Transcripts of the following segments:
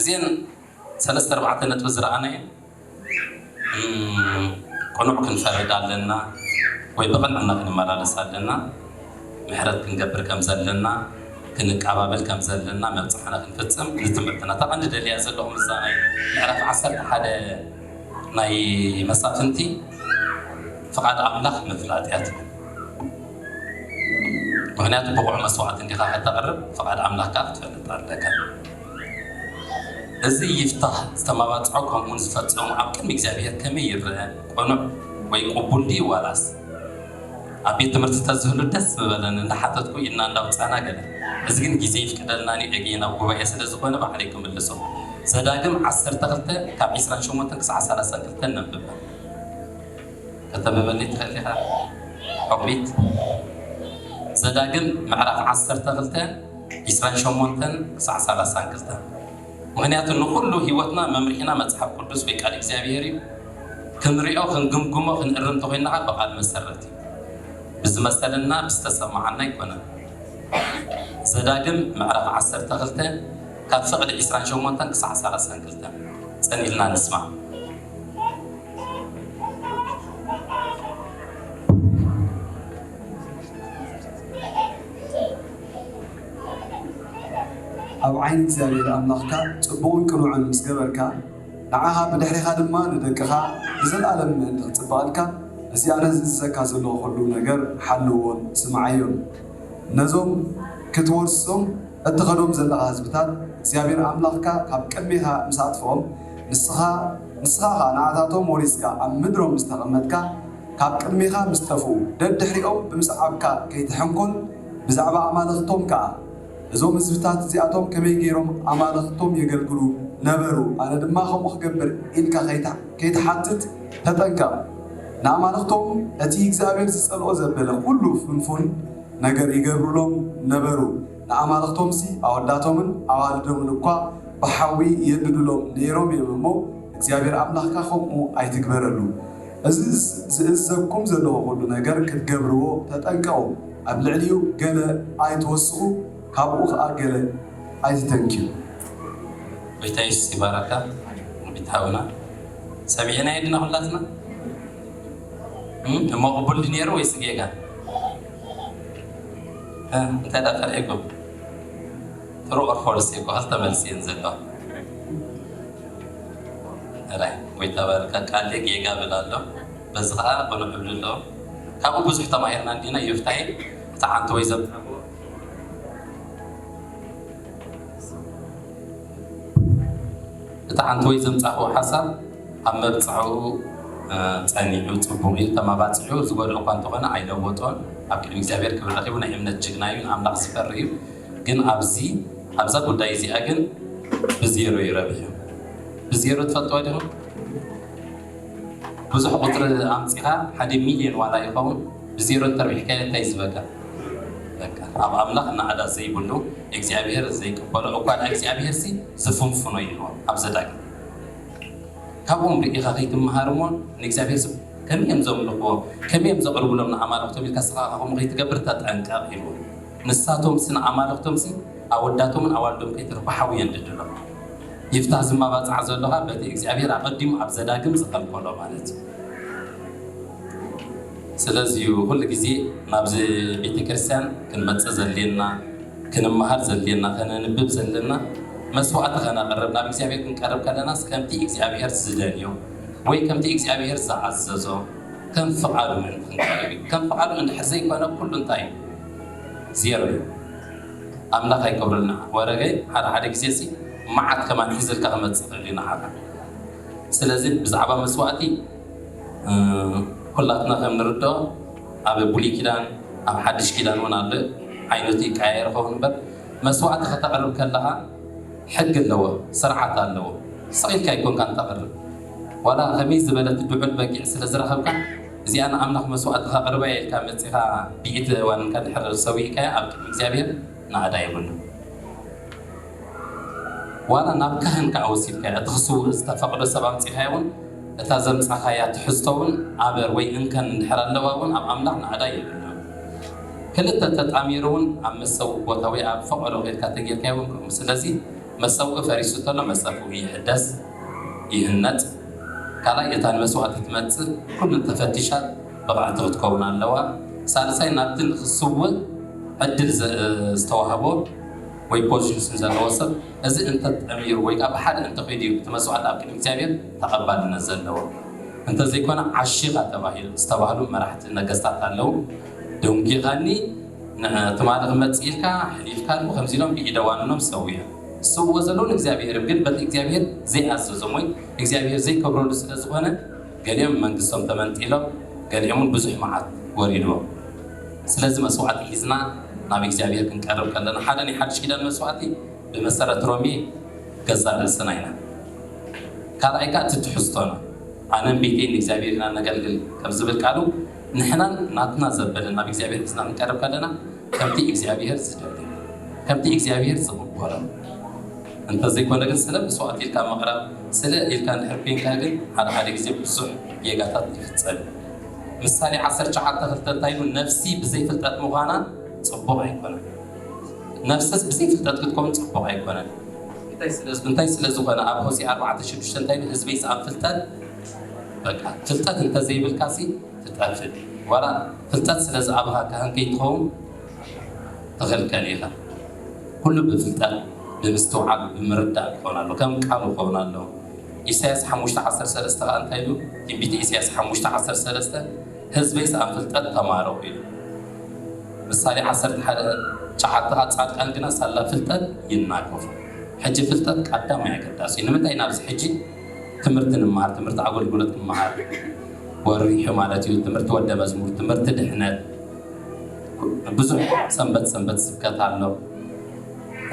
እዚኤን ሰለስተ ኣርባዕተ ነጥቢ ዝረኣናየን ቅኑዕ ክንፈርድ ኣለና ወይ ብቅንዕና ክንመላለስ ኣለና ምሕረት ክንገብር ከም ዘለና ክንቃባበል ከም ዘለና መብጽሕና ክንፍጽም ንትምህርትና እታ ቀንዲ ደልያ ዘለኹ ምዛ ናይ ምዕራፍ ዓሰርተ ሓደ ናይ መሳፍንቲ ፍቃድ ኣምላኽ ምፍላጥ እያ ትብል ምክንያቱ ብቑዕ መስዋዕቲ እንዲኻ ከተቕርብ ፍቃድ ኣምላኽካ ክትፈልጥ ኣለካ እዚ ይፍታህ ዝተማባጽዖ ከምኡውን ዝፈጸሞ ኣብ ቅድሚ እግዚኣብሄር ከመይ ይረኣ? ቅኑዕ ወይ ቅቡል ድዩ ዋላስ? ኣብ ቤት ትምህርቲ ተዝህሉ ደስ ምበለኒ እንዳሓተትኩ ኢድና እንዳውጻና ገለ እዚ ግን ግዜ ይፍቅደልናን ዩ ዕግየይ ናብ ጉባኤ ስለ ዝኾነ ባዕለይ ክምልሶ ዘዳግም ዓሰርተ ክልተ ካብ ዕስራን ሸሞንተን ክሳዕ ሰላሳን ክልተ ነንብባ ከተንብበለይ ትኽእል ኢኻ ዑቕቢት ዘዳግም ምዕራፍ ዓሰርተ ክልተ ዒስራን ሸሞንተን ክሳዕ ሳላሳን ክልተን ምኽንያቱ ንኹሉ ሕይወትና መምርሒና መጽሓፍ ቅዱስ ወይ ቃል እግዚኣብሔር እዩ። ክንሪኦ ክንግምግሞ ክንእርም ተኾይንና ኸኣ ብቃል መሰረት እዩ። ብዝመሰለና ብዝተሰማዓና ኣይኮነን። ዘዳግም ምዕራፍ ዓሰርተ ክልተ ካብ ፍቅዲ ዒስራን ሸሞንተን ክሳዕ ሳላሳን ክልተን ጽን ኢልና ንስማዕ። ኣብ ዓይኒ እግዚኣብሄር ኣምላኽካ ጽቡቕን ቅኑዕን ምስ ገበርካ፣ ንዓኻ ብድሕሬኻ ድማ ንደቅኻ ንዘለኣለም ምእንቲ ኺጽብቐልካ፣ ነዚ ኣነ ዝእዝዘካ ዘለኹ ዅሉ ነገር ሓልዎን ስምዓዮን። ነዞም ክትወርሶም እትኸዶም ዘለኻ ህዝብታት እግዚኣብሄር ኣምላኽካ ኻብ ቅድሜኻ ምስ ኣጥፍኦም፣ ንስኻ፣ ንስኻ ኸኣ ንኣታቶም ወሪስካ ኣብ ምድሮም ምስ ተቐመጥካ፣ ካብ ቅድሜኻ ምስ ጠፍኡ ደድሕሪኦም ብምስዓብካ ከይትሕንኮል፣ ብዛዕባ ኣማልኽቶም ከኣ፣ እዞም ህዝብታት እዚኣቶም ከመይ ገይሮም ኣማልኽቶም የገልግሉ ነበሩ፣ ኣነ ድማ ከምኡ ክገብር ኢልካ ከይትሓትት ተጠንቀቕ። ንኣማልኽቶም እቲ እግዚኣብሄር ዝጸልኦ ዘበለ ዅሉ ፍንፉን ነገር ይገብሩሎም ነበሩ፣ ንኣማልኽቶምሲ ኣወዳቶምን ኣዋልዶምን እኳ ብሓዊ የንድዱሎም ነይሮም እዮም እሞ፣ እግዚኣብሄር ኣምላኽካ ከምኡ ኣይትግበረሉ። እዚ ዝእዘዝኩም ዘለኹ ኹሉ ነገር ክትገብርዎ ተጠንቀቑ፣ ኣብ ልዕሊኡ ገለ ኣይትወስኹ ካብኡ ኸኣ ገለ ኣይትተንክዩ። ጎይታ የሱስ ይባርኽካ ውዲት ሓውና ሰሚዕናዮ ዲና ኩላትና እሞ ቅቡል ዲዩ ነይሩ ወይስ ጌጋ እንታይ ዳኣ ፈሊሕኩም። ትሩ ኦር ፎልስ ዘይብሃል ተመልስየን ዘለዋ ጥራይ ወይ ተባረካ ቃሌ ጌጋ ብል ኣሎ በዚ ከኣ ቅኑዕ እብሊ ኣለዉ ካብኡ ብዙሕ ተማሂርና እንዲና ዮፍታሄ እቲ ዓንተቦይ ዘምጻእዎ እቲ ዓንተቦይ ዘምጻእዎ ሓሳብ ኣብ መብጽዓኡ ጸኒዑ ጽቡቕ እዩ ተማባጺዑ ዝጎድኦ እኳ እንተኾነ ኣይለወጦን ኣብ ቅድሚ እግዚኣብሔር ክብሪ ረኺቡ ናይ እምነት ጅግና እዩ ንኣምላኽ ዝፈሪ እዩ ግን ኣብዚ ኣብዛ ጉዳይ እዚኣ ግን ብዜሮ እዩ ረቢሑ ብዜሮ ትፈልጥዋ ዲኹም ብዙሕ ቁፅሪ ኣምፂኻ ሓደ ሚልዮን ዋላ ይኸውን ብዜሮ እንተርቢሕካዮ እንታይ ዝበካ ኣብ ኣምላኽ ናዕዳ ዘይብሉ እግዚኣብሔር ዘይቅበሎ እኳ ድኣ እግዚኣብሔር ሲ ዝፍንፍኖ እዩ ኣብ ዘዳግም ካብኦም ርኢኻ ከይትመሃር እሞ ንእግዚኣብሔር ስም ከመይ እዮም ዘምልኽዎ ከመይ እዮም ዘቕርብሎም ንኣማልኽቶም ኢልካ ስኻ ከምኡ ከይትገብር ተጠንቀቕ ኢልዎ ንሳቶምስ ንኣማልኽቶምሲ ኣወዳቶምን ኣዋልዶም ከይተርፉሓዊ የንድድሎም። ይፍታህ ዝማባጻዕ ዘሎ ከኣ በቲ እግዚኣብሄር ኣቐዲሙ ኣብ ዘዳግም ዝኸልከሎ ማለት እዩ። ስለዚ እዩ ኩሉ ግዜ ናብዚ ቤተክርስትያን ክንመጽእ ዘድልየና፣ ክንመሃር ዘድልየና፣ ከነንብብ ዘለና፣ መስዋእቲ ከነቕርብ ናብ እግዚኣብሄር ክንቀርብ ከለናስ ከምቲ እግዚኣብሄር ዝደልዮ ወይ ከምቲ እግዚኣብሄር ዝኣዘዞ ከም ፍቓዱ ምእንቲ ክንቀርብ እዩ። ከም ፍቓዱ እንድሕር ዘይኮነ ኩሉ እንታይ እዩ? ዜሮ እዩ ኣምላክ ኣይገብረልና ወረገይ ሓደ ሓደ ግዜ ሲ ማዓት ከማን ሒዝልካ ክመጽእ ይክእል እዩ ናዓካ ስለዚ ብዛዕባ መስዋእቲ ኩላትና ከም ንርድኦ ኣብ ብሉይ ኪዳን ኣብ ሓድሽ ኪዳን እውን ኣሎ ዓይነቱ ይቀያየር ኸውን እምበር መስዋእቲ ከተቕርብ ከለኻ ሕጊ ኣለዎ ስርዓት ኣለዎ ስቕ ኢልካ ኣይኮንካን ተቕርብ ዋላ ከመይ ዝበለት ድዑል በጊዕ ስለ ዝረኸብካ እዚኣ ንኣምላኽ መስዋእቲ ከቕርባ እየ ኢልካ መጺኻ ብኢድ ዋኒንካ ድሕሪ ሰዊእካያ ኣብ ቅድሚ እግዚኣብሄር ናእዳ የብሉን። ዋላ ናብ ካህን ከኣ ወሲድካያ እቲ ክስውእ ዝተፈቕዶ ሰብ ኣምጺኻዮ እውን እታ ዘምጻኻያ ትሕዝቶ እውን ኣበር ወይ እንከን እንድሕር ኣለዋ እውን ኣብ ኣምላኽ ናእዳ የብሉን። ክልተ ተጣሚሩ እውን ኣብ መሰውኢ ቦታ ወይ ኣብ ፈቐዶ ከድካ ተጌርካዮ እውን ከምኡ። ስለዚ መሰውኢ ፈሪሱ ተሎ መጸፍኡ ይሕደስ። ይህነጽ ካልኣይ እታ ንመስዋእቲ ትመጽእ ኩሉ ተፈቲሻ ብቕዕቲ ክትከውን ኣለዋ ሳልሳይ ናብቲ ንኽስውእ ዕድል ዝተዋህቦ ወይ ፖዚሽን ዘለዎ ሰብ እዚ እንተጠሚሩ ወይ ከኣ ብሓደ እንተኺዱ እዩ እቲ መስዋእቲ ኣብ ቅድሚ እግዚኣብሔር ተቐባልነት ዘለዎ እንተዘይኮነ ዓሺኻ ተባሂሉ ዝተባህሉ መራሕቲ ነገስታት ኣለዉ ደንጒኻኒ ትማሊ ክመጽእ ኢልካ ሕሊፍካሉ ከምዚ ኢሎም ብኢደ ዋንኖም ሰዊኦም ዝሰውእዎ ዘለዉ ንእግዚኣብሄርም ግን በቲ እግዚኣብሄር ዘይኣዘዞም ወይ እግዚኣብሄር ዘይከብረሉ ስለ ዝኾነ ገሊኦም መንግስቶም ተመንጢሎም ገሊኦምውን ብዙሕ መዓት ወሪድዎም ስለዚ መስዋዕቲ ሒዝና ናብ እግዚኣብሄር ክንቀርብ ከለና ሓደ ናይ ሓድሽ ኪዳን መስዋዕቲ ብመሰረት ሮሜ ገዛእ ርእስና ኢና ካልኣይ ከኣ እቲ ትሕዝቶና ኣነን ቤተይን ንእግዚኣብሄር ኢና ነገልግል ከምዝብል ቃሉ ንሕናን ናትና ዘበለን ናብ እግዚኣብሄር ሒዝና ክንቀርብ ከለና ከምቲ እግዚኣብሄር ዝደሊ ከምቲ እግዚኣብሄር ዝቅበሎ እንተ ዘይኮነ ግን ስለ መስዋእቲ ኢልካ ምቅራብ ስለ ኢልካ እንድሕር ኮይንካ ግን ሓደ ሓደ ግዜ ብዙሕ ጌጋታት ይፍጸም እዩ ምሳሌ ዓሰርተ ሸውዓተ ክልተ እንታይ ኢሉ ነፍሲ ብዘይ ፍልጠት ምዃና ጽቡቅ ኣይኮነን ነፍስስ ብዘይ ፍልጠት ክትከውን ጽቡቅ ኣይኮነን እንታይ ስለ ዝኾነ ኣብ ሆሴ ኣርባዕተ ሽዱሽተ እንታይ ኢሉ ህዝበይስ ኣብ ፍልጠት በቃ ፍልጠት እንተ ዘይብልካሲ ትጠፍእ ዋላ ፍልጠት ስለ ዝኣበኻካ ህንጥይ ትኸውን ትኽልከል ኢኻ ኩሉ ብፍልጠት ብምስትውዓል ብምርዳእ ክኾን ኣሎ ከም ቃሉ ክኸውን ኣሎ ኢሳያስ ሓሙሽተ ዓሰርተ ሰለስተ ከኣ እንታይ ኢሉ ትንቢተ ኢሳያስ ሓሙሽተ ዓሰርተ ሰለስተ ህዝበይ ሰኣን ፍልጠት ተማረኹ ኢሉ ምሳሌ ዓሰርተ ሓደ ጨሓቲ ከኣ ጻድቃን ግና ሳላ ፍልጠት ይናገፉ ሕጂ ፍልጠት ቀዳማይ ኣገዳሲ እዩ ንምንታይ ናብዚ ሕጂ ትምህርቲ ንመሃር ትምህርቲ ኣገልግሎት ንመሃር ወሪሑ ማለት እዩ ትምህርቲ ወደ መዝሙር ትምህርቲ ድሕነት ብዙሕ ሰንበት ሰንበት ስብከት ኣሎ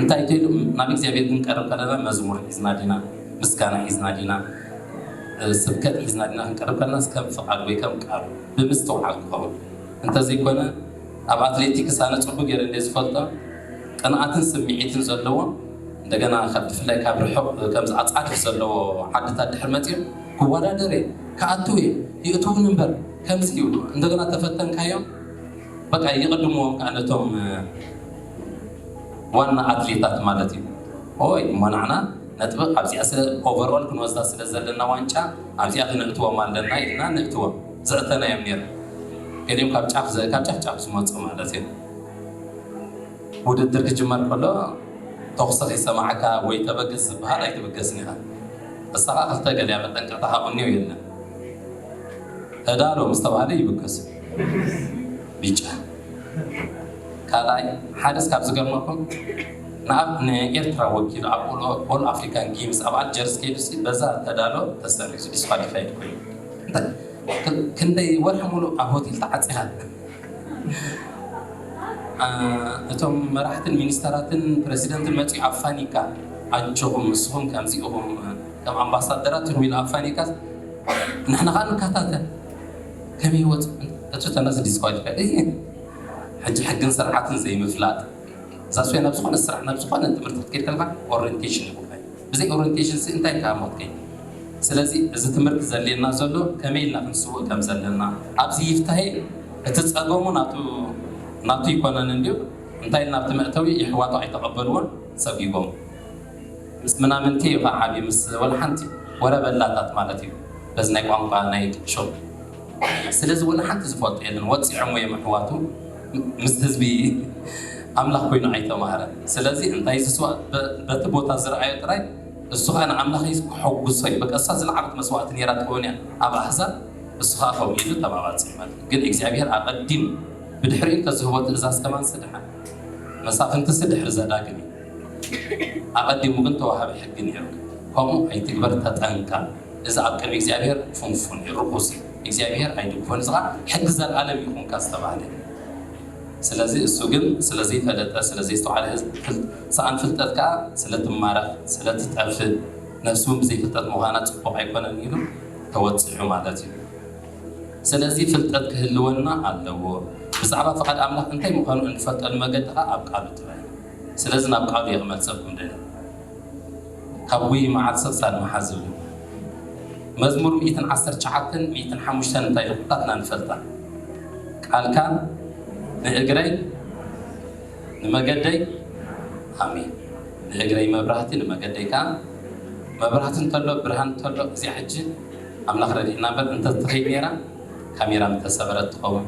እንታይ ትሉ ናብ እግዚኣብሔር ክንቀርብ ከለና መዝሙር ሒዝና ዲና ምስጋና ሒዝና ዲና ስብከት ሒዝና ዲና ክንቀርብ ከለና ከም ፍቃድ ወይ ከም ቃሉ ብምስትውዓል ክኸውን እንተዘይኮነ ኣብ ኣትሌቲክስ ኣነ ፅቡቅ ገይረ እንደ ዝፈልጦ ቅንኣትን ስምዒትን ዘለዎም እንደገና ካብ ብፍላይ ካብ ርሑቕ ከምዚ ኣጻድፍ ዘለዎ ዓድታት ድሕሪ መጺኦም ክወዳደር እየ ክኣቱ እየ የእትዉኒ እምበር ከምዚ እዩ እንደገና ተፈተንካዮም በቃ ይቕድምዎም ከዓ ነቶም ዋና ኣትሌታት ማለት እዩ ኦይ እሞ ናዕና ነጥቢ ኣብዚኣ ስለ ኦቨርኦል ክንወስዳ ስለ ዘለና ዋንጫ ኣብዚኣ ክነእትዎም ኣለና ኢልና ነእትዎም ዘእተናዮም ነይሩ ገሊኦም ካብ ጫፍ ካብ ጫፍ ጫፍ ዝመፁ ማለት እዩ ውድድር ክጅመር ከሎ ተኹሲ ከይሰማዕካ ወይ ተበገስ ዝበሃል ኣይትብገስን ኢኻ። እሳኻ ክልተ ገሊያ መጠንቀቕታ ካብ እንዮ የለን። ተዳሎ ምስ ተባህለ ይብገሱ። ቢጫ ካልኣይ ሓደስ ካብ ዝገርመኩም ንኣብ ንኤርትራ ወኪሉ ኣብ ኦል ኣፍሪካን ጌምስ ኣብ ኣልጀርስ ከይዱ በዛ ተዳሎ ተሰሪዙ ዲስኳሊፋይድ ኮይኑ ክንደይ ወርሒ ሙሉእ ኣብ ሆቴል ተዓፂኻ እቶም መራሕትን ሚኒስተራትን ፕረሲደንትን መጺኡ ኣፋኒካ ኣጆኹም ንስኹም ከምዚ ኢኹም ከም ኣምባሳደራት ኢኹም ኢሉ ኣፋኒካስ ንሕና ከኣ ንከታተል ከመይ ወጽ እቱ ተነስ ዲስኳሊፋይ ሕጂ ሕግን ስርዓትን ዘይምፍላጥ እዛ ስዌ ናብ ዝኾነ ስራሕ ናብ ዝኾነ ትምህርቲ ክትከይድ ከለኻ ኦሬንቴሽን ይኹን ብዘይ ኦሬንቴሽንሲ እንታይ ከኣ ሞት ከይኑ ስለዚ እዚ ትምህርቲ ዘድልየና ዘሎ ከመይ ኢልና ክንስውእ ከም ዘለና ኣብዚ ይፍታሄ እቲ ጸገሙ ናቱ ናቱ ኣይኮነን እንድዩ እንታይ ኢልና ኣብቲ መእተዊ የሕዋቱ ኣይተቐበልዎን ሰጒጎም ምስ ምናምንቲ እዩ ከኣ ዓብዩ ምስ ወልሓንቲ ወረ በላታት ማለት እዩ በዚ ናይ ቋንቋ ናይ ሹቕ ስለዚ ወላ ሓንቲ ዝፈልጦ የለን ወጺዖሞ እዮም ኣሕዋቱ ምስ ህዝቢ ኣምላኽ ኮይኑ ኣይተማህረን ስለዚ እንታይ ዝስዋእ በቲ ቦታ ዝረኣዮ ጥራይ እሱ ከኣ ንኣምላኽ እዩ ከሐጉሶ እዩ በቃ እሳ ዝለዓለት መስዋእቲ ነይራ ትኸውን እያ ኣብ ኣሕዛብ እሱ ከኣ ከምኡ ኢሉ ተማባጺ ማለት ግን እግዚኣብሔር ኣቐዲም ብድሕሪኡ እንተዝህቦ ትእዛዝ ከማን ስድሓን መሳፍንትሲ ድሕሪ ዘዳግም እዩ ኣቐዲሙ ግን ተዋሃቢ ሕጊ ነይሩ ከምኡ ኣይትግበር ተጠንቀቕ እዚ ኣብ ቅድሚ እግዚኣብሔር ፍንፉን እዩ ርኹስ እዩ እግዚኣብሔር ኣይድግፎን እዚ ኸኣ ሕጊ ዘለዓለም እዩ ኹንካ ዝተባህለ እዩ ስለዚ እሱ ግን ስለ ዘይፈለጠ ስለ ዘይስተውዓለ ሰኣን ፍልጠት ከኣ ስለ ትማረኽ ስለ ትጠፍእ ነፍሲ እውን ብዘይፍልጠት ምዃና ጽቡቕ ኣይኮነን ኢሉ ተወጺዑ ማለት እዩ ስለዚ ፍልጠት ክህልወና ኣለዎ ብዛዕባ ፍቓድ ኣምላኽ እንታይ ምዃኑ እንፈልጠሉ መገዲ ኸኣ ኣብ ቃሉ ጥራይ ስለዚ ናብ ቃሉ እየ ክመልሰኩም ደልየ ካብ ጉይይ መዓር ሰብሳድ መሓዝ ዝብል መዝሙር ሚእትን ዓሰርተ ትሽዓተን ሚእትን ሓሙሽተን እንታይ ኢሉ ኩላትና ንፈልጣ ቃልካ ንእግረይ ንመገደይ ኣሜን ንእግረይ መብራህቲ ንመገደይ ከዓ መብራህቲ እንተሎ ብርሃን እንተሎ እዚኣ ሕጂ ኣምላኽ ረዲእና እምበር እንተትኸይድ ነይራ ካሜራ ምተሰበረት ትኸውን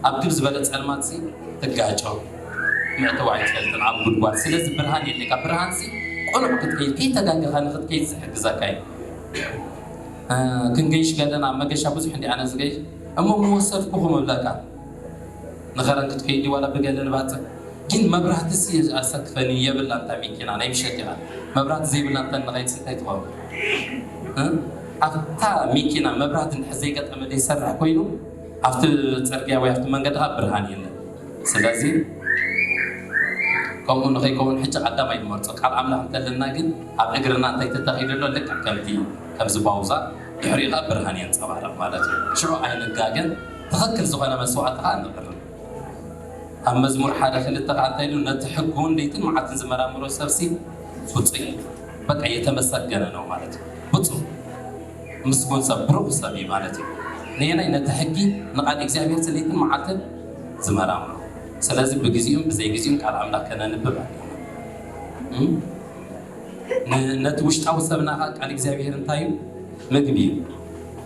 ኣብቲ ዝበለ ጸልማት ሲ ትጋጮ ምዕተቡ ኣይትፈልጥን ኣብ ጉድጓድ ስለዚ ብርሃን የድልየካ ብርሃን ሲ ቁኑዕ ክትከይድ ከይተጋገኻ ንኽትከይድ ዝሕግዘካ እዩ ክንገይሽ ከለና መገሻ ብዙሕ እንዲ ኣነ ዝገይሽ እሞ ምወሰድኩኹም እብለካ ንኸረን ክትከይድ ዋላ ብገለ ንባጽዕ ግን መብራህቲ ሲ ኣሰክፈኒ የብላ እንታ ሚኪና ናይ ምሸት ኢኻ መብራህቲ ዘይብላ እንተ ንኸይድ ሲ እንታይ ትኸውን ኣብታ ሚኪና መብራህቲ እንድሕር ዘይገጠመ ዘይሰርሕ ኮይኑ ኣብቲ ጽርግያ ወይ ኣብቲ መንገዲ ከኣ ብርሃን የለን ስለዚ ከምኡ ንኸይከውን ሕጂ ቀዳማይ ንመርጾ ቃል ኣምላኽ እንተለና ግን ኣብ እግርና እንታይ ተተኺሉ ኣሎ ልክዕ ከምቲ ከምዚ ባውዛ ድሕሪኡ ከኣ ብርሃን የንጸባርቕ ማለት እዩ ሽዑ ኣይንጋገን ትኽክል ዝኾነ መስዋእቲ ከኣ ነቕርብ ኣብ መዝሙር ሓደ ክልተ ከዓ እንታይ ኢሉ ነቲ ሕጉውን ለይትን መዓልትን ዝመራምሮ ሰብሲ ብፁዕ እዩ በቃ የተመሰገነ ነው ማለት እዩ ብፁዕ ምስጉን ሰብ ብሩክ ሰብ እዩ ማለት እዩ ነየናይ ነቲ ሕጊ ንቃል እግዚኣብሔር ለይትን መዓልትን ዝመራምሮ ስለዚ ብግዚኡን ብዘይ ግዚኡን ቃል ኣምላክ ከነንብብ ኣለና ነቲ ውሽጣዊ ሰብና ከዓ ቃል እግዚኣብሔር እንታይ እዩ ምግቢ እዩ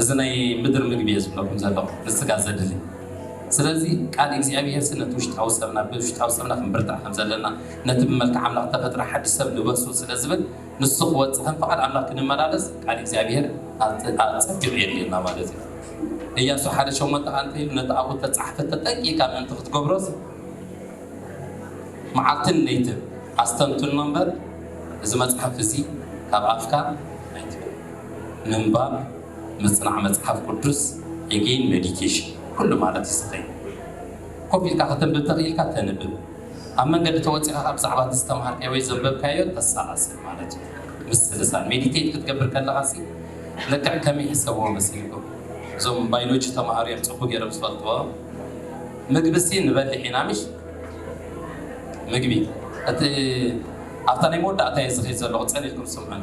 እዚ ናይ ምድር ምግቢ እየ ዝብለኩም ዘለኹ ንስጋ ዘድሊ ስለዚ ቃል እግዚኣብሄርሲ ነቲ ውሽጣዊ ሰብና ብ ውሽጣዊ ሰብና ክንብርትዕ ከም ዘለና ነቲ ብመልክዕ ኣምላኽ ዝተፈጥረ ሓድሽ ሰብ ልበሱ ስለ ዝብል ንሱ ክወጽእ ከም ፍቓድ ኣምላኽ ክንመላለስ ቃል እግዚኣብሄር ኣጸቢቑ የድልየና ማለት እዩ እያሱ ሓደ ሸሞንተ ከኣ እንታይ ኢሉ ነቲ ኣብኡ እተጻሕፈ ተጠንቂቕካ ምእንቲ ክትገብሮስ መዓልትን ለይትን ኣስተንትኖ እምበር እዚ መጽሓፍ እዚ ካብ ኣፍካ ኣይትበል ምንባብ ምጽናዕ መጽሓፍ ቅዱስ Again Meditation ኩሉ ማለት እዩ ዝኸይድ ኮፍ ኢልካ ከተንብብ ተኽኢልካ ተንብብ ኣብ መንገዲ ተወጺኻ ካብ ብዛዕባ እቲ ዝተምሃርካዮ ወይ ዘንበብካዮ ተሰላስል ማለት እዩ ምስልሳል ሜዲቴት ክትገብር ከለኻ ሲ ልክዕ ከመይ ሕሰብዎ መሲልኩም እዞም ባዮሎጂ ተምሃሩ እዮም ጽቡቅ ገይሮም ዝፈልጥዎ ምግብሲ ንበልሕ ኢና ምሽ ምግቢ እቲ ኣብታ ናይ መወዳእታ እየ ዝኸይድ ዘለኹ ጸኒሕኩም ስምዑን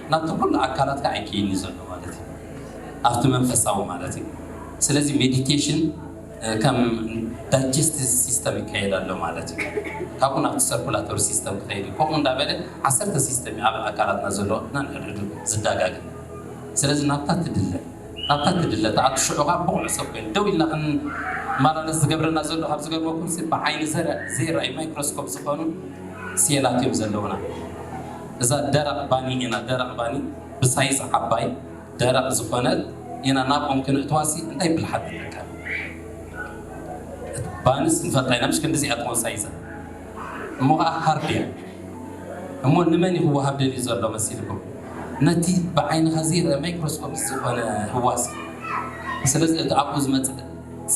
ናብቲ ኩሉ ኣካላትካ ኣይኪይድን እዩ ዘሎ ማለት እዩ ኣብቲ መንፈሳዊ ማለት እዩ ስለዚ ሜዲቴሽን ከም ዳይጀስቲቭ ሲስተም ይካየድ ኣሎ ማለት እዩ ካብኡ ናብቲ ሰርኩላቶሪ ሲስተም ክኸይድ እዩ ከምኡ እንዳበለ ዓሰርተ ሲስተም እዩ ኣብ ኣካላትና ዘሎ ናንሕድሕዱ ዝዳጋገ ስለዚ ናብታ ትድለ ናብታ ትድለ ተኣቱ ሽዑ ከዓ ብቑዕ ሰብ ኮይኑ ደው ኢልና ክንመላለስ ዝገብረና ዘሎ ካብ ዝገርመኩም ብዓይኒ ዘይርኣዩ ማይክሮስኮፕ ዝኾኑ ሴላት እዮም ዘለውና እዛ ደረቅ ባኒ ኢና ደረቅ ባኒ ብሳይዝ ዓባይ ደረቅ ዝኮነት ኢና ናብ ኦም ክነእትዋሲ እንታይ ብልሓት ንጥቀም እት ባንስ ንፈልጣ ኢና ምሽ ክንድዚኣ ትኮን ሳይዛ እሞ ከኣ ሃርድ እያ እሞ ንመን እዩ ክዋሃብ ደልዩ ዘሎ መሲልኩም ነቲ ብዓይንካ ዘይረኣ ማይክሮስኮፕ ዝኮነ ህዋስ ስለዚ እቲ ኣብኡ ዝመጽእ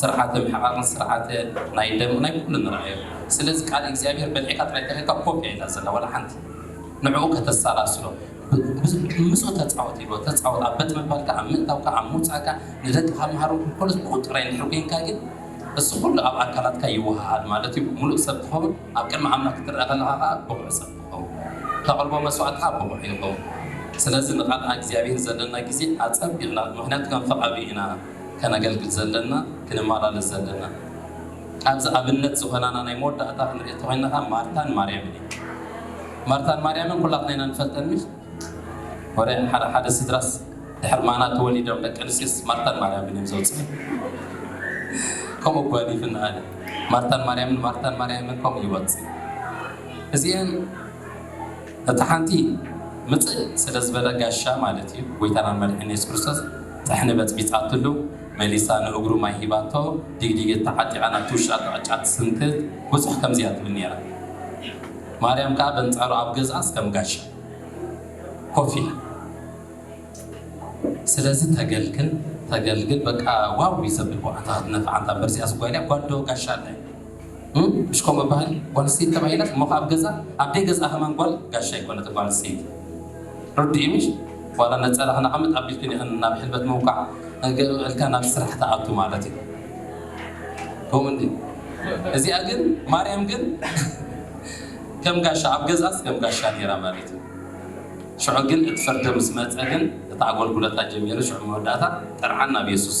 ስርዓተ ምሕቃቅን ስርዓተ ናይ ደም ናይ ኩሉ ንርኣዮ ስለዚ ቃል እግዚኣብሄር በሊዕካ ጥራይ ተሪካ ኮፒያ ኢላ ዘላ ዋላ ሓንቲ ንዕኡ ከተሰላስሎ ብዙሕ ምስኡ ተጻወት ኢልዎ። ተጻወት ኣብ በት ምባልካ ኣብ ምእታውካ ኣብ ምውጻእካ ንደቅኻ መሃሮም ክብከሉ ዝብቁ ጥራይ እንድሕር ኮንካ ግን እዚ ኩሉ ኣብ ኣካላትካ ይወሃሃድ ማለት እዩ ምሉእ ሰብ ትኸውን ኣብ ቅድሚ ኣምላኽ ክትርኣ ከለኻ ከኣ ብቑዕ ሰብ ትኸውን ተቕርቦ መስዋእቲ ከኣ ብቑዕ ይኸውን ስለዚ ንቃል ኣግዚኣብሄር ዘለና ግዜ ኣጸቢቕና ምኽንያቱ ከም ፍቓዱ ኢና ከነገልግል ዘለና ክንመላለስ ዘለና። ኣብዚ ኣብነት ዝኾናና ናይ መወዳእታ ክንሪኦ እንተኾይና ከኣ ማርታን ማርያምን እየን። ማርታን ማርያምን ኩላትና ኢና ንፈልጠን እምሽ? ወረ ሓደ ሓደ ስድራስ ድሕሪ ማና ተወሊዶም ደቂ ኣንስትዮስ ማርታን ማርያምን እዮም ዘውጽእን። ከምኡ እኳ ኣሊፍኒ ኣነ። ማርታን ማርያምን ማርታን ማርያምን ከምኡ ይወጽእ። እዚኤን እታ ሓንቲ ምጽእ ስለ ዝበለ ጋሻ ማለት እዩ ጎይታናን መድሕን የሱስ ክርስቶስ ጥሕኒ በጽቢጻትሉ። መሊሳ ንእግሩ ማይ ሂባቶ ዲግዲገት ተዓጢቓ ናብቲ ውሽጣ ጥዕጫ ትስንክት ብዙሕ ከምዚ እያ ትብል ኔራ ማርያም ከኣ በንጻሩ ኣብ ገዝኣስ ከም ጋሻ ኮፍ ኢላ ስለዚ ተገልግል ተገልግል በቃ ዋው እዩ ዘብል ብቅዓታ ክትነፍዕ ኣንታ እምበር እዚኣስ ጓል እያ ጓል ዶ ጋሻ ኣላ እዩ እም እሽ ከምኡ ይባሀል ጓል ኣንስተይቲ ተባሂለኽ እሞ ከኣ ኣብ ገዛ ኣብ ደይ ገዝኣ ከማን ጓል ጋሻ ኣይኮነትን ጓል ኣንስተይቲ ርድኢይ ምሽ ዋላ ነጸላኺ ነቀምጥ ኣቢልክን ኢኽን ናብ ሕልበት ምውቃዕ እግእ እልካ ናብ ስራሕ ትኣቱ ማለት እዩ ከምኡ እንድዩ እዚኣ ግን ማርያም ግን ከም ጋሻ ኣብ ገዝኣስ ከም ጋሻ ነይራ ማለት እዩ ሽዑ ግን እቲ ፍርዲ ምስ መጸ ግን እቲ ኣጎልጉለታ ጀሚሩ ሽዑ መወዳእታ ጥርዓን ናብ የሱስ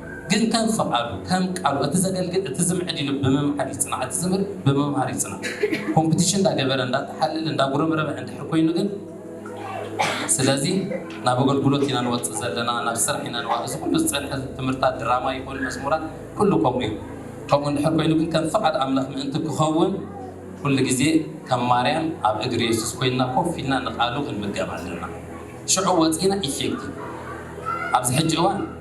ግን ከም ፍቓዱ ከም ቃሉ እቲ ዘገልግል እቲ ዝምዕድ ኢሉ ብምምዓድ ይጽናዕ እቲ ዝምህር ብምምሃር ይጽናዕ ኮምፕቲሽን እንዳ ገበረ እንዳ ተሓለለ እንዳ ጉረምረመ እንድሕር ኮይኑ ግን ስለዚ ናብ ኣገልግሎት ኢና ንወጽእ ዘለና ናብ ስራሕ ኢና ንዋ እዚ ኩሉ ዝጸንሐ ትምህርታት ድራማ ይኹን መዝሙራት ኩሉ ከምኡ እዩ ከምኡ እንድሕር ኮይኑ ግን ከም ፍቓድ ኣምላኽ ምእንቲ ክኸውን ኩሉ ግዜ ከም ማርያም ኣብ እግሪ የሱስ ኮይንና ኮፍ ኢልና ንቓሉ ክንምገብ ኣለና ሽዑ ወጺእና ኢፌክቲቭ ኣብዚ ሕጂ እዋን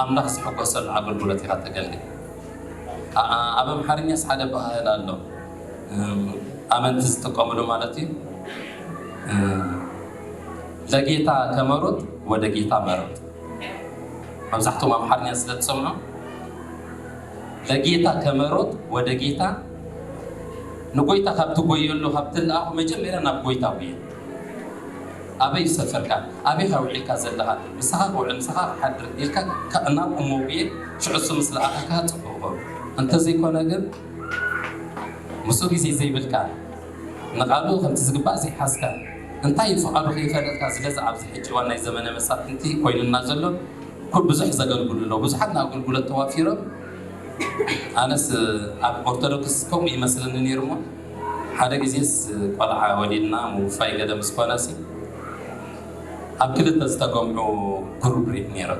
ኣምላኽ ዝሕጎሰሉ ኣገልግሎት ኢኻ ተገልግል ኣኣ ኣብ ኣምሓርኛስ ሓደ ኣበሃህላ ኣሎ ኣመንቲ ዝጥቀምሉ ማለት እዩ ለጌታ ከመሩት ወደ ጌታ መሩት መብዛሕትኦም ኣምሓርኛ ስለ ትሰምዑ ለጌታ ከመሩት ወደ ጌታ ንጎይታ ካብ ትጎየሉ ካብ ትልኣኹ መጀመርያ ናብ ጎይታ ጉየ ኣበይ ዝሰፈርካ ኣበይ ኢካ ዊዒልካ ዘለካ ምሳካ ክውዕል ምሳካ ክሓድር ኢልካ ካእ ናብ እሞ ጉየ ሽዑ እሱ ምስ ለኣከካ ጽቡቅ እኮ እንተዘይ ኮነ ግን ምሱ ግዜ ዘይብልካ ንቃሉ ከምቲ ዝግባእ ዘይሓዝካ እንታይ እዩ ፍቃዱ ከይፈለጥካ ዝለዚ ኣብዚ ሕጂ እዋን ናይ ዘመነ መሳፍንቲ ኮይኑና ዘሎ ኩ ብዙሕ ዘገልግሉ ኣለዉ ብዙሓት ንኣገልጉሎት ተዋፊሮም ኣነስ ኣብ ኦርቶዶክስ ከምኡ ይመስለኒ ነይሩ እሞ ሓደ ግዜስ ቆልዓ ወሊድና ምውፋይ ገለ ምስ ኮነሲ ኣብ ክልተ ዝተገምዑ ግሩብ ሪድ ኔረ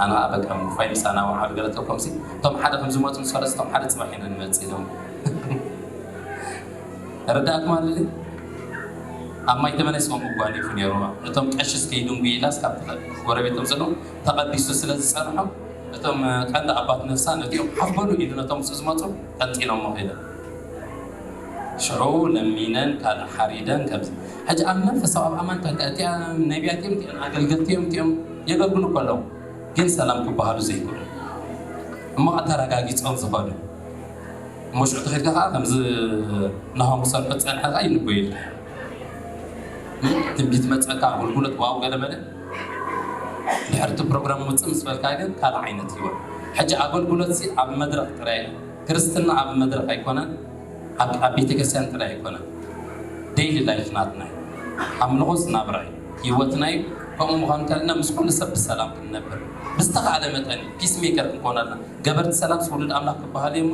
ኣነ ከኣ በቃ ምውፋይ ምሳና ወዓሉ ገለ ተኮምሲ እቶም ሓደ ከም ዝመጹ ምስ ፈለሱ እቶም ሓደ ጽባሕ ኢና ንመጽእ ኢሎም ረዳእኩም ኣለኒ ኣብ ማይ ተመነ ስም ምጓኒፉ ኔሩ ነቶም ቀሽስ ከይድንጉ ኢላስ ካብ ጎረቤቶም ዘለዉ ተቐዲሱ ስለ ዝጸንሖም እቶም ቀንዲ ኣባት ነፍሳ ነቲኦም ሓፍ በሉ ኢሉ ነቶም ምስ ዝመጹ ጠንጢኖሞ ከይደ ሽዑ ለሚነን ካልእ ሓሪደን ከምዚ ሕጂ ኣብ መንፈሳዊ ኣብ ኣማንታ እንተ እቲኣ ነቢያት እዮም እቲኦም ኣገልገልቲ እዮም እቲኦም የገልግሉ እኮ ኣለዉ ግን ሰላም ክበሃሉ ዘይክእሉ እሞ ከ ተረጋጊጾም ዝኸዱ እሞ ሽዑ ተኸድካ ከዓ ከምዚ ናሆም ክሰርሑ ዝጸንሐ ከዓ ይንበዩ ትንቢት መጸካ ኣገልግሎት ዋው ገለመለ ድሕርቲ ፕሮግራም ውፅእ ምስ በልካ ግን ካልእ ዓይነት ህይወት ሕጂ ኣገልግሎት ኣብ መድረኽ ጥራይ ክርስትና ኣብ መድረኽ ኣይኮነን ኣብ ኣብ ቤተክርስትያን ጥራይ ኣይኮነን ደይሊ ላይፍ ናትና እዩ ኣምልኾስ ናብራ እዩ ሂወትና እዩ ከምኡ ምዃኑ እንተለና ምስ ኩሉ ሰብ ብሰላም ክንነብር ብዝተኻእለ መጠን እዩ ፒስ ሜከር ክንኮን ኣለና ገበርቲ ሰላምስ ውሉድ ኣምላኽ ክበሃሉ እዮም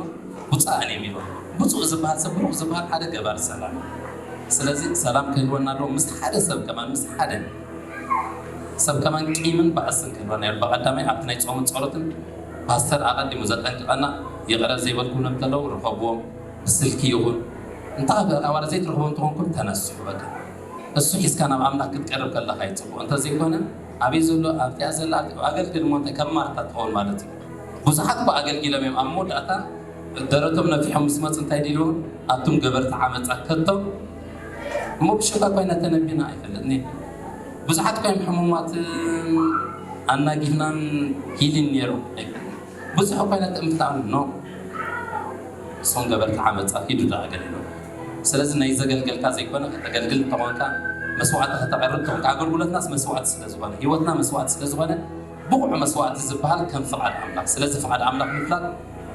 ብፁዓን እዮም ኢሎም ብፁዕ ዝበሃል ሰብ ብሩኽ ዝበሃል ሓደ ገባሪ ሰላም እዩ ስለዚ ሰላም ክህልወና ኣለዎ ምስ ሓደ ሰብ ከማን ምስ ሓደ ሰብ ከማን ቂምን ባእስን ክህልወና ኣለዎ ብቀዳማይ ኣብቲ ናይ ጾምን ጸሎትን ፓስተር ኣቀዲሙ ዘጠንቅቀና ይቅረ ዘይበልኩም ለምተለዉ ርኸብዎም ብስልኪ ይኹን እንተ ኣብኣ ዋላ ዘይትረኽቦም ተኾንኩም ተነስሑ በቃ እሱ ሒዝካ ናብ ኣምላኽ ክትቀርብ ከለኻ እዩ ጽቡቅ እንተ ዘይኮነ ኣበይ ዘሎ ኣብቲኣ ዘላ ኣቲ ኣገልግል እሞ እንታይ ከም ማርታ ትኸውን ማለት እዩ ብዙሓት እኮ ኣገልጊሎም እዮም ኣብ መወዳእታ ደረቶም ነፊሖም ምስ መጹ እንታይ ዲልዎም ኣቱም ገበርቲ ዓመጻ ከቶ እሞ ብሽክለታ ኮይነ ተነቢና ኣይፈልጥን እየ ብዙሓት ኮይም ሕሙማትን ኣናጊፍናን ሂሊን ነይሩ ብዙሕ ኮይነ ጥምታን ኖ እሶም ገበርቲ ዓመፃ ሂዱ ዶ ኣገልግሎ ስለዚ ናይ ዘገልገልካ ዘይኮነ ከተገልግል እንተኾንካ መስዋዕቲ ከተቐርብ ተኾንካ ኣገልግሎትናስ መስዋዕቲ ስለዝኾነ ህይወትና መስዋዕቲ ስለዝኾነ ብቑዕ መስዋዕቲ ዝበሃል ከም ፍቓድ ኣምላኽ ስለዚ ፍቓድ ኣምላኽ ምፍላጥ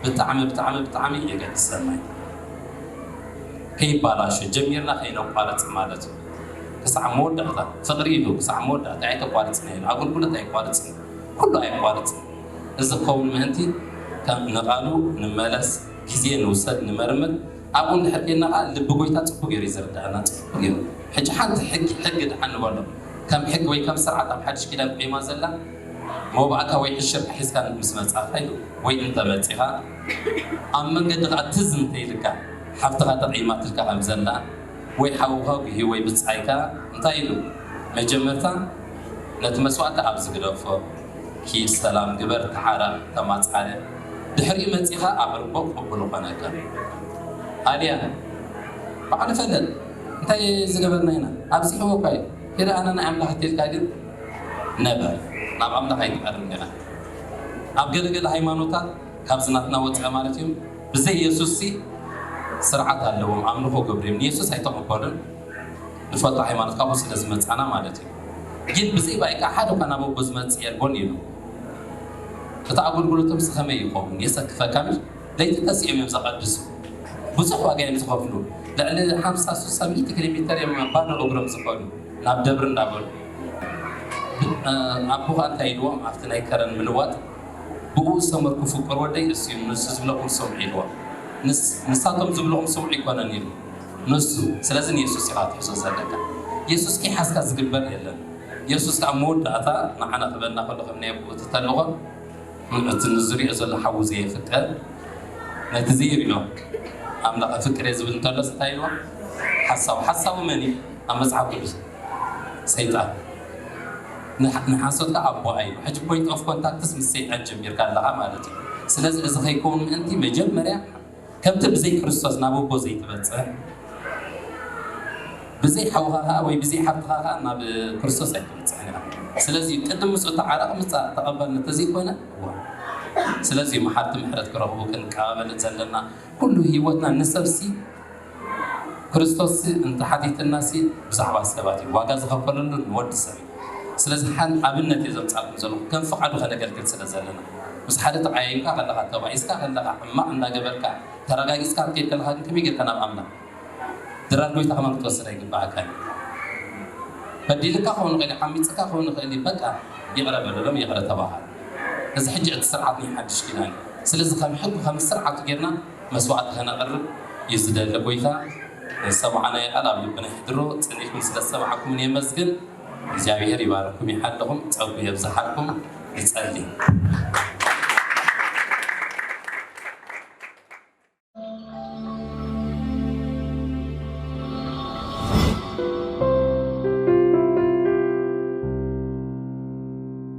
ብጣዕሚ ብጣዕሚ ብጣዕሚ የገድሰና እዩ ከይባላሾ ጀሚርና ከይነቋርጽ ማለት እዩ ክሳዕ መወዳእታ ፍቅሪ ኢሉ ክሳዕ መወዳእታ ኣይተቋርጽና ኢሉ ኣገልጉሎት ኣይቋርጽን ኩሉ ኣይቋርጽን እዚ ክኸውን ምእንቲ ከም ንቃሉ ንመለስ ግዜ ንውሰድ ንመርምር ኣብኡ እንድሕር ኬድና ከኣ ልቢ ጎይታ ጽቡቅ ጌሩ እዩ ዘርድኣና ጽቡቅ ጌሩ ሕጂ ሓንቲ ሕጊ ሕጊ ድሓን ንበሎ ከም ሕጊ ወይ ከም ስርዓት ኣብ ሓድሽ ኪዳን ቆይማ ዘላ መባእታ ወይ ዕሽርካ ሒዝካ ምስ መጻእካ እዩ ወይ እንተ መጺኻ ኣብ መንገዲ ከኣ ትዝ እንተ ኢልካ ሓብትኻ ተቀይማትልካ ከም ዘላ ወይ ሓውኻ ጉሂ ወይ ብጻይካ እንታይ ኢሉ መጀመርታ ነቲ መስዋእቲ ኣብዚ ግደፎ ኪድ ሰላም ግበር ተዓረቅ ተማጻረ ድሕሪኡ መጺኻ ኣቅርቦ ቅቡል ኾነካ ኣልያ ባዕሉ ፈለጥ እንታይ ዝገበርና ኢና ኣብዚሕዎኳ እዩ ኪድ ኣነ ናይ ኣምላኽ እንተ ኢልካ ግን ነበር ናብ ኣምላኽ ኣይትቀርብን ዲኻ። ኣብ ገለ ገለ ሃይማኖታት ካብዚ ናትና ወጻኢ ማለት እዮም ብዘይ የሱስሲ ስርዓት ኣለዎም ኣምልኾ ገብሩ እዮም ንየሱስ ኣይተቐበሉን ንፈቶ ሃይማኖት ካብኡ ስለ ዝመጻና ማለት እዩ ግን ብዘይ ባይካ ሓደ እኳ ናብ ኣቦ ዝመጽእ የልቦን ይብሉ እቲ ኣገልግሎቶም ስኸመይ ይኸውን የሰክፈካ ምሽ ለይቲ ተሲኦም እዮም ዘቐድሱ ብዙሕ ዋጋ እዮም ዝኸፍሉ ልዕሊ ሓምሳ ሱሳ ሚእቲ ኪሎ ሜተር እዮም ባዶ እግሮም ዝኸዱ ናብ ደብሪ እንዳበሉ ኣቦኻ እንታይ ኢልዎም ኣብቲ ናይ ከረን ምልዋጥ ብኡ ዝተመርኩ ፍቁር ወደይ ንሱዩ ንሱ ዝብለኩም ስምዑ ኢልዎም ንስ ንሳቶም ዝብልኦም ስምዑ ኣይኮነን ኢሉ ንሱ ስለዚ ንየሱስ ኢኻ ትሕዞ ዘለካ የሱስ ከይሓዝካ ዝግበር የለን የሱስ ኣብ መወዳእታ ንዓና ክበና ከሎ ከም ናይ ኣቦኡ እቲ ተልእኾ እቲ ንዝሪኦ ዘሎ ሓዉ ዘየፍቅር ነቲ ዘይሪኦ ኣምላኸ ፍቅር እየ ዝብል እንተሎስ እንታይ ኢልዎም ሓሳዊ ሓሳዊ መን እዩ ኣብ መጽሓፍ ቅዱስ ሰይጣን ንሓሶት ከኣ ኣቦኣ እዩ ሕጂ ፖይንት ኦፍ ኮንታክትስ ምስ ሰይጣን ጀሚርካ ኣለኻ ማለት እዩ ስለዚ እዚ ከይከውን ምእንቲ መጀመርያ ከምቲ ብዘይ ክርስቶስ ናብ ኣቦ ዘይትበጽሕ ብዘይ ሓውኻ ከኣ ወይ ብዘይ ሓብትኻ ከኣ ናብ ክርስቶስ ኣይትበጽሕን ኢኻ ስለዚ ቅድም ምስኡ ተዓረቕ ምጻእ ተቐበል እንተዘይኮነ ስለዚ መሓርቲ ምሕረት ክረኽቡ ክንቀባበልን ዘለና ኩሉ ህይወትና ንሰብሲ ክርስቶስሲ እንተ ሓቲትናሲ ብዛዕባ ሰባት እዩ ዋጋ ዝኸፈለሉ ንወዲ ሰብ እዩ ስለዚ ሓን ኣብነት እየ ዘምጻልኩም ዘለኹ ከም ፍቓዱ ከነገልግል ስለ ዘለና ምስ ሓደ ተቓያይምካ ከለኻ ተባኢስካ ከለኻ ሕማቕ እንዳ ገበርካ ተራጋጊጽካ ክትከይድ ከለኻ ግን ከመይ ጌርካ ናብ ኣምላኽ ድራር ጎይታ ከማን ክትወስድ ኣይግባኣካን እዩ በዲልካ ክኸውን ይኽእል እዩ ዓሚጽካ ክኸውን ይኽእል እዩ በቃ ይቕረ በለሎም ይቕረ ተባሃል እዚ ሕጂ እቲ ስርዓት ናይ ሓድሽ ኪዳን እዩ ስለዚ ከም ሕጉ ከም ስርዓቱ ጌርና መስዋዕቲ ከነቅርብ እዩ ዝደለ ጎይታ ንዝሰማዕናዮ ቃል ኣብ ልብና የሕድሮ ጸኒሕኩም ስለ ዝሰማዕኩምኒ የመስግን እግዚኣብሔር ይባርኩም ይሓልኹም ጸጉ የብዝሓልኩም ንጸሊ።